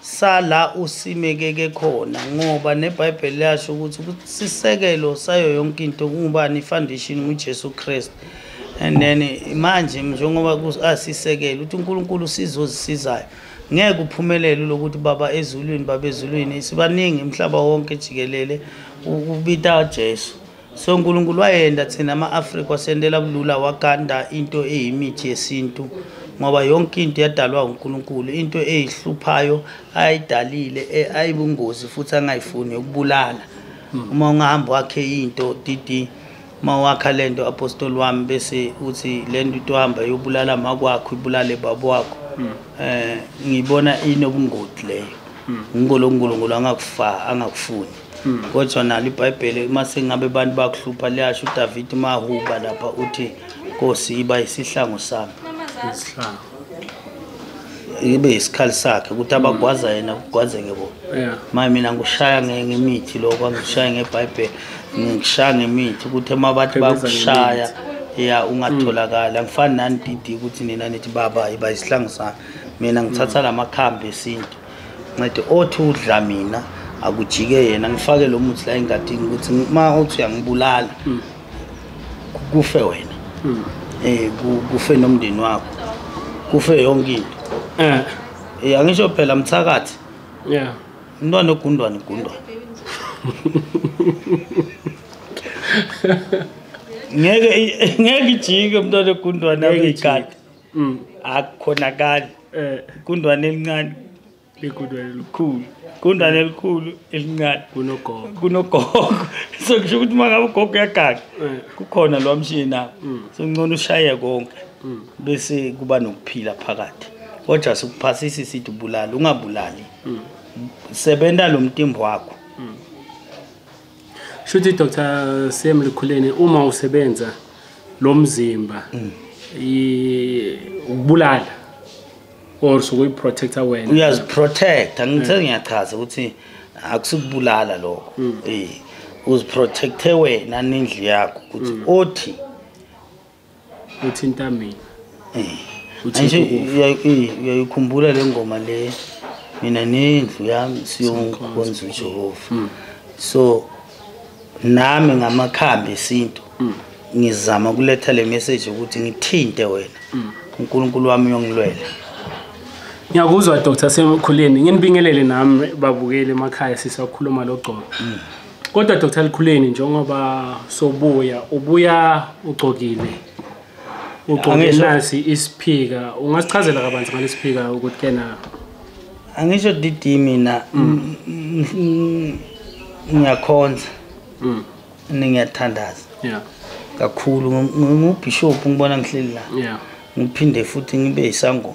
sala usimekeke khona ngoba nebhayibheli liyasho ukuthi sisekelo sayo yonke into kungubani ifoundation ngujesu kristu and then manje njengoba asisekele ukuthi unkulunkulu usizo ozisizayo ngeke uphumelele lokuthi baba ezulwini baba ezulwini sibaningi umhlaba wonke jikelele ukubita ujesu so unkulunkulu wayenda thina ama-afrika wasendela bulula waganda into eyimithi yesintu ngoba yonke into yadalwa unkulunkulu into eyihluphayo ayidalile e, ayibungozi futhi angayifuni yokubulala hmm. uma ungahamba wakhe into dd uma wakha le nto apostoli wami bese uthi le nto itohamba yobulala makwakho ibulale baba wakho um ngiyibona inobungoti leyo ngikho lo nkulunkulu angakufuni Hmm. kodwa nalo ibhayibheli uma sengabe abantu bakuhlupha liyasho udavidi mahuba lapha uthi nkosi iba isihlangu sami ibe yisikhali sakhe ukuthi abagwaza yena kugwazeke bona maye mina ngikushaya ngemithi lokho angikushaya ngebhayibheli ngikushaya ngemithi ukuthi uma bathi bakushaya ya ungatholakali angifani nani didi ukuthi nina nithi baba iba yisihlangu sami mina ngithatha la makhambi esintu ncede othi udla mina akujike yena ngifake lo muthi la engadini ukuthi uma uthi uyangibulala hmm. kufe wena um kufe nomndeni wakho kufe yonke into um eh. eh, angisho phela mthakathi ya umntwana ogundwana igundwana ngeke ngeke ijike umntwana ogundwana ngeke ijike mm. akukhonakali eh. kundwane elincane bekundwane elikhulu kundwane elikhulu elincane kunogogo kunogogo so kusho ukuthi uma ngabe ugogo uyagaga eh. kukhona lo mshini nawo mm. so ngcono ushaye konke mm. bese kuba nokuphila phakathi kodwa sikuphasisa isithi ubulali ungabulali sebenza lo mtimbo wakho shuthi Dr Sam Likhuleni uma usebenza lo mzimba mm. ukubulala or sokuyi protector wena uyazi protect angithe mm. ngiyachaza ukuthi akusukubulala lokho mm. eh uziprotecte wena nendli yakho ukuthi othi uthinta mina uyayikhumbula le ngoma le mina nendlu yami siyokhonza ujehova hmm. so nami ngamakhambi esintu hmm. ngizama ukuletha le message ukuthi ngithinte wena hmm. unkulunkulu wami uyongilwela ngiyakuzwa dr semukhuleni nginibingelele nami babukeli emakhaya sisakhuluma logcobo Kodwa Dr Likhuleni njengoba sobuya ubuya ugcokile. Ugcoke nasi isiphika. Ungasichazela kabanzi ngalesiphika ukuthi kena Angisho DD mina mm. ngiyakhonza. Mhm. Ningiyathandaza. Yeah. Kakhulu ngubishop ngibona ngihleli la. Yeah. Ngiphinde futhi ngibe isangoma.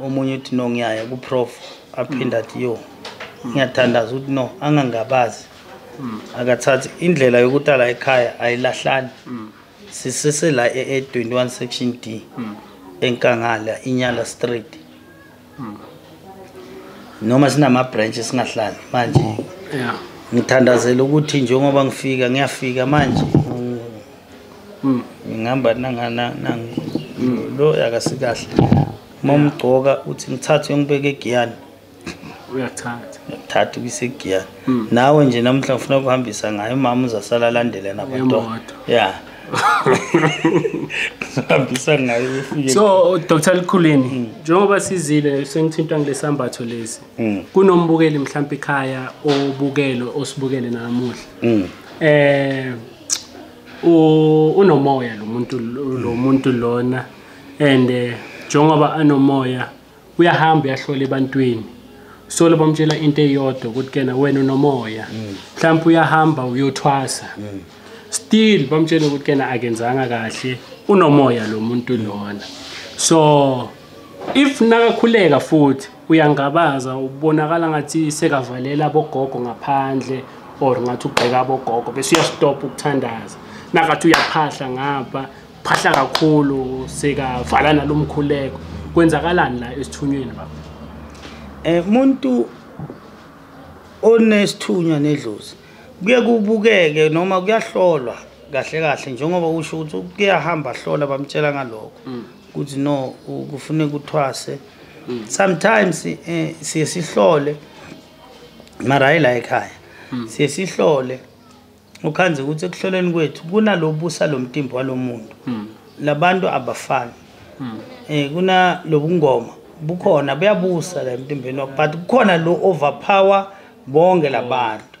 omunye uthi no ngiyaya kuprof aphinde athi yo ngiyathandaza ukuthi no angangabazi hmm. akathathi indlela yokuthi ala ekhaya ayilahlani hmm. sisese la e-21 section d hmm. enkangala inyala street noma sinama-branch singahlali manje ngithandazela ukuthi njengoba ngifika ngiyafika manje mm. ngihamba nanganangu mm. lo akasikahle uma umgcoka uthi ngithathe uyongibeka egiyani uyathatha uyathatha ukise egiyani mm. nawe nje namhla ngifuna ukuhambisa ngayo umama uzasala alandele nabantwana ya hambisa ngayo ufike so Dr Likhuleni mm. njengoba sizile sengithintwa ngilesambatho lesi mm. kunombukeli mhlawumbe ikhaya obukelo osibukele namuhla mm. eh unomoya lo muntu lo muntu lona and eh, njengoba anomoya uyahamba uyahlola ebantwini so laba mtshela into eyodwa ukuthi kena wena unomoya mm. mhlawumbe uyahamba uyothwasa mm. still bamtshela ukuthi kena akenzanga kahle unomoya lo muntu lona so if nakakhuleka futhi uyangabaza ubonakala ngathi sekavalela abogogo ngaphandle or ngathi ugxeka abogogo bese uyastop ukuthandaza nakathi uyaphahla ngapha phahla kakhulu sekavala nalomkhuleko kwenzakalani la esithunyweni baba eh umuntu onesithunywa nedlozi kuye kubukeke noma kuyahlolwa kahle kahle njengoba usho ukuthi kuyahamba hlola bamtshela ngalokho mm. ukuthi no kufuneka uthwase mm. sometimes eh, siye sihlole mara hayi la ekhaya mm. siye sihlole ukhanze ukuthi ekuhloleni kwethu kunalobusa lo mtimbo walo muntu mm. labantu abafani um kuna lobungoma bukhona buyabusa la emtimbeni wakho but kukhona lo overpower bonke labantu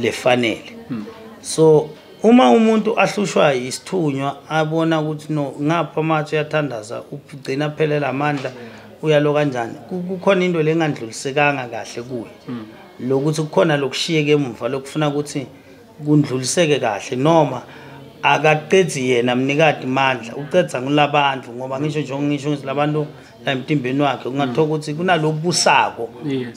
lefanele hmm. so uma umuntu ahlushwa isithunywa abona ukuthi no ngapha amatshe uyathandaza ugcina aphelela amandla uyalo kanjani kukhona into lengandlulisekanga kahle kuye hmm. lokuthi kukhona lokushiyeke emuva lokufuna ukuthi kundluliseke kahle noma akaqedzi yena mnikati mandla uqedza ngulabandlu ngoba ngisho njengo ngisho ngilabantu emtimbeni wakhe ungathola mm. ukuthi kunalobusako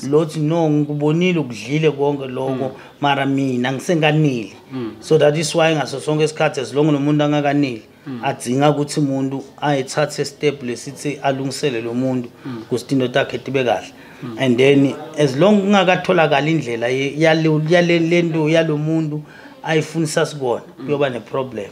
lothi no ngikubonile ukudlile konke lokho mm. mara mina ngisenganili mm. so that is why ngaso sonke isikhathi as long nomuntu angakanili adzinga ukuthi umuntu ayethathe step lesithi alungisele lo muntu ukuthi into takhe tibe kahle and then as long kungakatholakala indlela yalento yalomuntu ayifunisa sikona kuyoba neproblem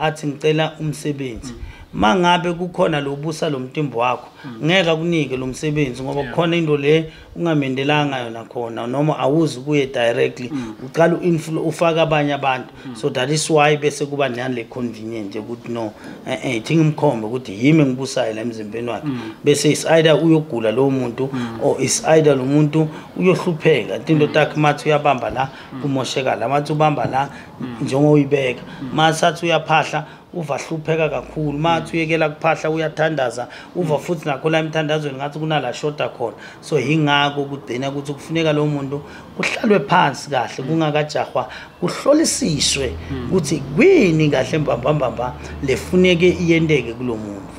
athi ngicela umsebenzi mm. mangabe kukhona lobusa lomtimbo wakho mm. ngeke akunike lo msebenzi ngoba kukhona into le ungamendelanga yona khona noma awuzi kuye directly mm. uqala uinflu ufaka abanye abantu mm. so that is why bese kuba nani le convenient ukuthi no eh eh thinga umkhombe ukuthi yimi ngibusayo la emzimbeni wakhe bese is either uyogula lo muntu or is either lo muntu uyohlupheka into takhe mathi uyabamba la kumosheka la mathi ubamba la mm. njengoyibeka mm. masathi uyaphahla uva hlupheka kakhulu mathi uyekela kuphahla uyathandaza uva mm. futhi nakho la emthandazweni ngathi kunala shoda khona so yingakho kugcina ukuthi kufuneka lo muntu kuhlalwe phansi kahle kungakajahwa kuhlolisiswe ukuthi kwini kahle mbambambamba lefuneke iyenteke kulo muntu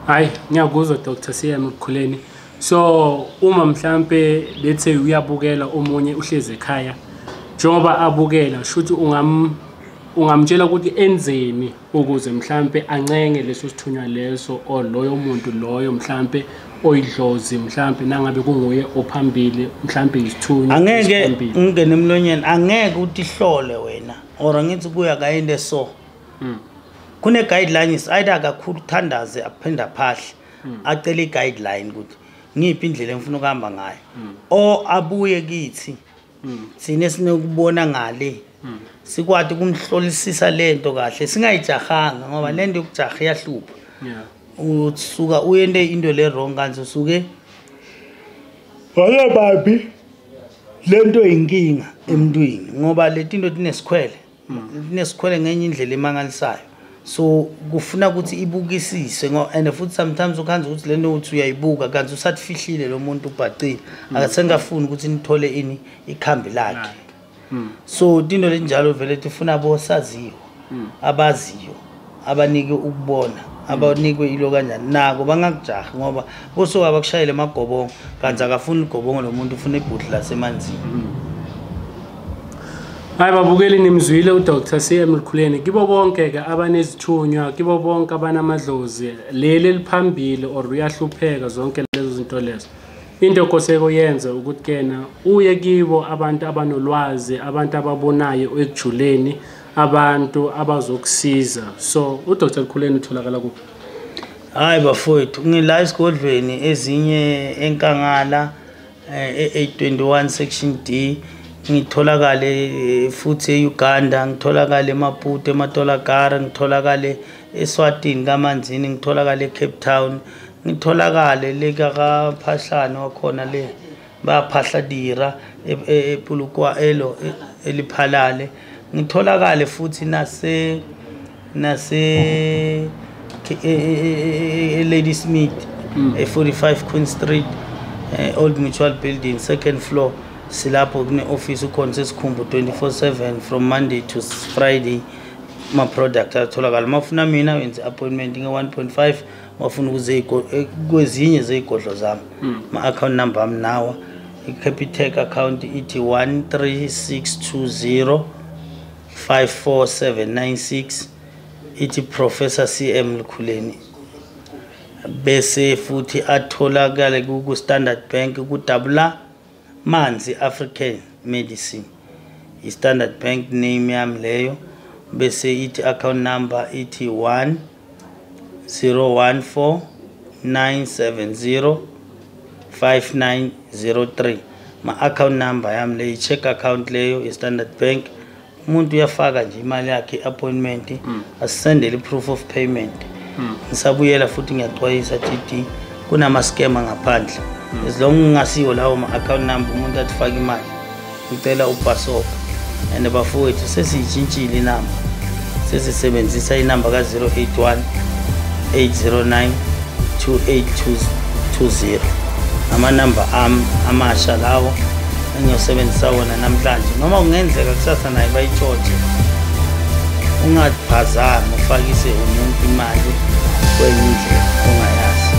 hayi ngiyakuzwa dr cm ekukhuleni so uma mhlampe let's say uyabukela omunye uhlezi ekhaya njengoba abukela shuthi ungam ungamtshela ukuthi enzeni ukuze mhlampe ancenge leso sithunywa leso or loyo muntu loyo mhlampe oyidlozi mhlampe nangabe kunguye ophambili mhlampe isithunywa angeke ungene emlonyeni angeke uthi hlole wena or ngithi kuya kayinde so hmm. kune guidelines either akakhulu thandaze aphinde aphahle hmm. acele i-guideline ukuthi ngiyiphi indlela engifuna ukuhamba ngayo hmm. o abuye kithi hmm. thina esinokubona ngale sikwati ukumhlolisisa lento kahle singayijahanga ngoba lento yokujaha iyahlupha usuka uyente into le wrong kanti usuke waye babi lento inkinga emntwini ngoba letinto tinesikhwele hmm. inesikhwele ngenye indlela emangalisayo so kufuna ukuthi ibukisise and futhi sometimes ukhanza ukuthi le note uyayibuka kanti usatifihlile lo muntu ubhacile hmm. akasengafuni ukuthi nithole ini ikhambi lakhe hmm. so into lenjalo vele tifuna bosaziyo abaziyo abanike ukubona abanikwe ilo kanjani nako bangakujahi ngoba kusuke abakushayele amagobongo kanti akafuni igobongo lo muntu ufuna ibhuti lasemanzini hayi babukeli nimzwile udr cm lukhuleni kibo bonke-ke abanezithunywa kibo bonke abanamadlozi leli eliphambili or uyahlupheka zonke lezo zinto lezo into okoseko yenze ukuthi kena uye kibo abantu abanolwazi abantu ababonayo ekujuleni abantu abazokusiza so udr khuleni utholakala kuphi hayi bafowethu ngila esigodlweni ezinye enkangala eh, e-821 section d ngitholakale eh, futhi e-uganda ngitholakale emaputo ematolagara ngitholakale eswatini kamanzini ngitholakale ecape town ngitholakale lekakaphahlane wakhona le baphahla dira epulukwa e, e, elo e, eliphalale ngitholakale futhi nase nase Lady Smith mm. e 45 Queen Street eh, Old Mutual Building second floor silapho kune office ukhona sesikhumbu 24/7 from Monday to Friday ma product atholakala mafuna mina wenze appointment nge 1.5 wafuna ukuze eh, kwezinye zezigodlo zami hmm. ma-account number ami nawa i-capitec account ithi 13620 54796 ithi professor cm lukhuleni bese futhi atholakale ku-standard bank kudabula Manzi African Medicine i Standard Bank name yami leyo bese ithi account number ithi 1 014 970 5903 ma account number yami leyi check account leyo i Standard Bank umuntu uyafaka nje imali yakhe i-appointment mm. asisendele i-proof of payment mm. ngisabuyela futhi ngiyaxwayisa td kunama-scam angaphandle mm. as long ngingasiwo lawo ma-account number umuntu athi fake imali ngicela ubhasoka and bafowethu sesiyitshintshile inamba sesisebenzisa inamba ka-081 809 2820 amanamba ami amasha lawo engiyosebenzisa wona namhlanje noma kungenzeka kusasa naye bayitshotshe ungaphazami ufakise umuntu imali kwenye indlela ongayazi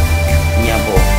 ngiyabonga